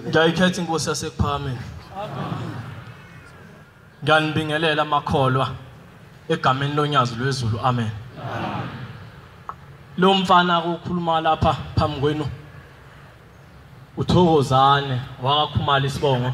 ngiyayikhetha inkosi yasekuphakameni ngiyanibingelela amakholwa egameni lonyazi lwezulu amen lo mfana akukhuluma lapha phambi kwenu uthokozane wakakhumala isibongo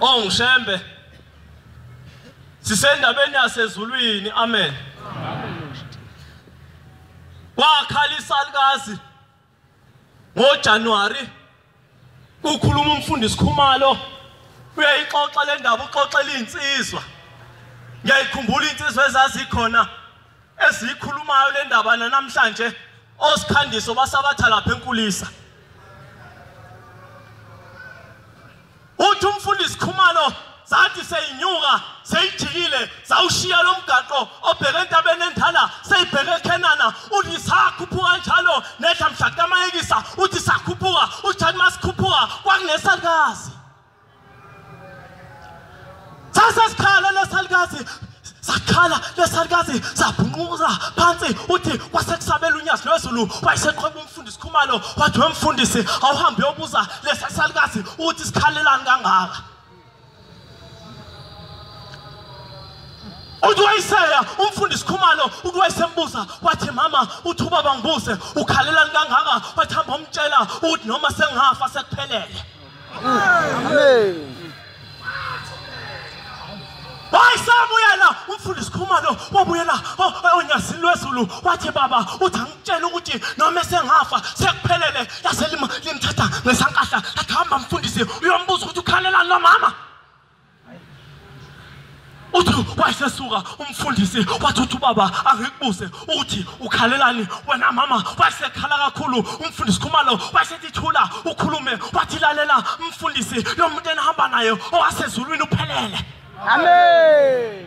Oh ngishembe. Sisendabeni yasezulwini. Amen. Wakhala isalukazi ngo January ukhuluma umfundisi Khumalo uyayixoxa le ndaba uxoxela insizwa ngiyayikhumbula insizwa ezazikhona esiyikhulumayo le ndaba nanamhlanje osikhandiso basabatha lapha enkulisa uthi umfundisi khumalo sathi seyinyuka seyijikile sawushiya lo mgaqo obheke entabeni endala seyibheke ekhenana uthi sakhuphuka njalo nehla mhla kamayekisa uthi sakhuphuka uthi uma sikhuphuka kwakunesakazi sase sikhala lesalukazi sakhala lesalukazi sabhunquza phansi uthi kwasekusabela unyazi lwezulu wayeseqhweba umfundisi khumalo wathi wemfundisi awuhambe uyobuza lesasalukazi uthi sikhalelani kangaka uthi wayiseya umfundisi khumalo uthi wayesembuza wathi mama uthi ubaba ngibuze ukhalelani kangaka wathi hamba umtshela ukuthi noma sengafa sekuphelele hayi sabuyela umfundisi khumalo wabuyela onyazini lwezulu wathi baba uthi angitshela ukuthi noma esengafa sekuphelele yaselimthatha ngesankahla athi hamba mfundisi uyombuza ukuthi ukhalelani lomama uthi wayesesuka umfundisi wathi uthi ubaba angikubuze ukuthi ukhalelani wena mama wayesekhala kakhulu umfundisi khumalo wayesethi thula ukhulume wathi lalela umfundisi lo muntu enihamba naye owasezulwini uphelele amen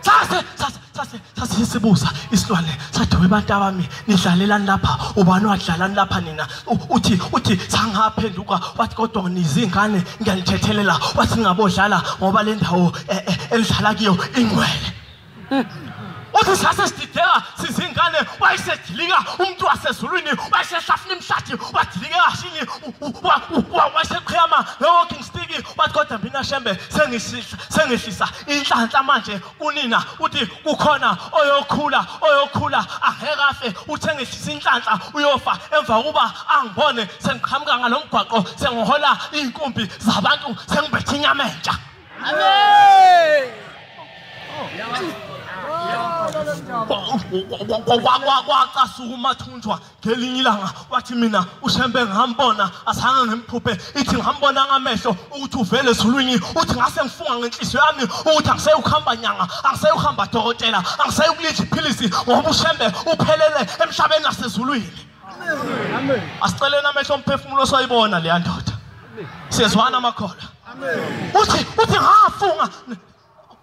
sase sase sase sase isibuza isilwane sathi webantu abami nidlalelani lapha ubani wadlalani lapha nina uthi uthi sangaphenduka wathi kodwa nizingane ngiyanithethelela wathi ngabodlala ngoba le ndawo eh, eh, elidlala kuyo ingcwele uthi sase sidideka sizingane wayesedilika umuntu wasezulwini wayesehlafuna imhlathi wadilika kashini wayeseqhiyama nge-walking stick wathi kodwa mina shembe sengihlisa inhlanhla manje kunina uthi kukhona oyokhula oyokhula aheke afe uthengisisa inhlanhla uyofa emva kokuba angibone sengiqhamuka ngalomgwaqo sengihola izinkumbi zabantu sengibethe inyama entsha amen kwacasuka umathunjwa ngelinye ilanga wathi mina ushembe ngambona asanga ngimphuphe ithi ngambona ngamehlo ukuthi uvele ezulwini uthi ngase ngifunga ngenhliziyo yami ukuthi angiseyi ukuhamba nyanga angiseyi ukuhamba dokotela angiseyi ukulidla iphilisi ngoba ushembe uphelele emhlabeni nasezulwini asiceleni amehlo omphefumulo osayibona leya ndoda siyezwana amakhola uthi uthi ngafunga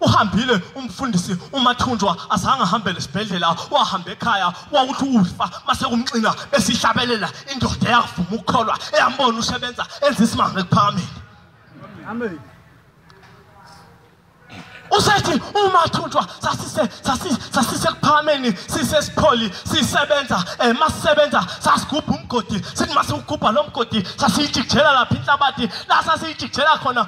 uhambile umfundisi umathunjwa azange ahambele esibhedlela wahamba ekhaya wawuthi ufa mase kumxina esihlabelela indoda eyakuvuma ukukholwa eyambona usebenza enza isimanga ekuphakameni amen usethi umathunjwa sasise sasise sasise kuphakameni sise sipholi sisebenza eh masisebenza sasigubha umgodi sithi masugubha lomgodi sasijikjela lapha inhlabathi la sasijikjela khona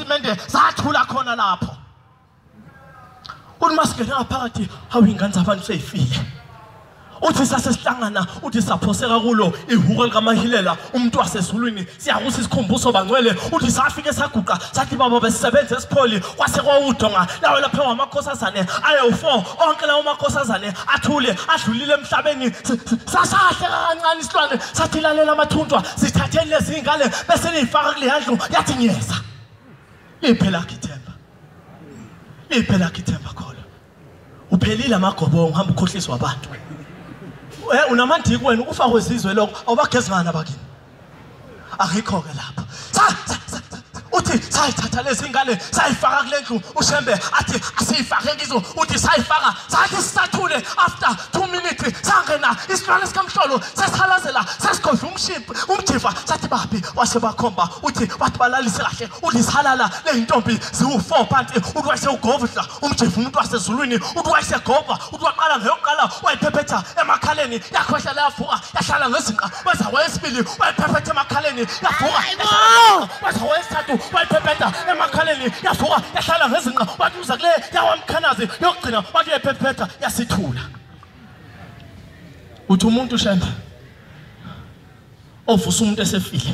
isitatimende sathula khona lapho uthi masingene ngaphakathi hawu ingane zabantu seyifile uthi sasesihlangana uthi saphoseka kulo ihuko likamahilela umuntu wasezulwini siyakusa isikhumbuso bangcwele uthi safike saguqa sathi baba besisebenza esipholi kwase kwawudonga lawo lapha wamakhosazane ayewu-four onke lawo makhosazane athule adlulile emhlabeni sasahle kancane isilwane sathi lalela amathunjwa sithatheni lezi y'ngane bese niyifaka kuleya ndlu yathi ngiyeza liphe lakho ithemba liphe lakho ithemba khona uphelile amagobongo hamba ukhohliswa abantu um unamandiki wena ukufakwe zizwe lokho awubagezingani abakini Akekho ke lapha. Sa sa sa uthi sayithatha lezi ngane sayifaka kule ndlu ushembe athi asiyifake kizo uthi sayifaka sathi sisathule after 2 minutes sangena isilwane sikamhlolo sesikhalazela sesigodla umshimpi umjiva sathi baphi wase bakhomba uthi wathi balalise kahle ulisalala leyintombi ziwu4 phansi uthi wayese ugovudla umjiva umuntu wasezulwini uthi wayese gova uthi waqala ngeyokuqala wayiphephetha emakhaleni yakhohla layavuka yahlala ngezinqa waze wayesibili wayiphephetha emakhaleni yavuka waze wayesithathu wayiphephetha emakhaleni yavuka yahlala ngezinqa wathi uza kule yawamkhanazi yokugcina wathi uyephephetha yasithula uthi umuntu shembe ovusa umuntu esefile